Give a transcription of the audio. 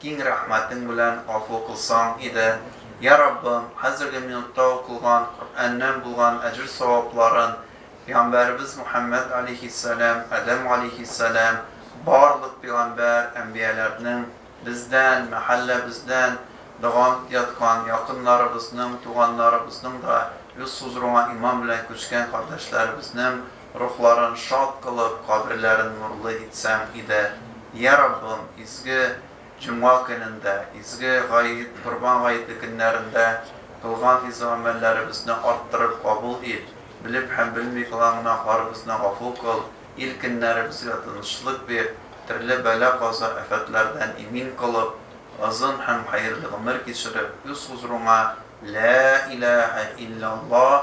Киң рәхмәтең белән гафу кылсаң иде, йә Раббым, хәзерге минутта укылган Коръәннән булган әҗер-савапларын пигамбәребез Мөхәммәд алейһиссәлам, Адәм алейһиссәлам, барлык пигамбәр, әнбияләрнең, бездән, мәхәлләбездән доган яткан якыннарыбызның, туганнарыбызның да, үз хузурыңа иман белән күчкән кардәшләребезнең, рухларын шат кылып, каберләрен нурлы итсәң иде. Йә, Раббым, изге җомга көнендә, изге гает, Корбан гаете көннәрендә кылган изге гамәлләребезне арттырып кабул ит, белеп һәм белми кылган гөнаһларыбызны гафу кыл, ил-көннәребезгә тынычлык бир, төрле бәла-каза, афәтләрдән имин кылып, озын һәм хәерле гомер кичереп, үз хузурыңа, Ләә иләәһә илләллаһ,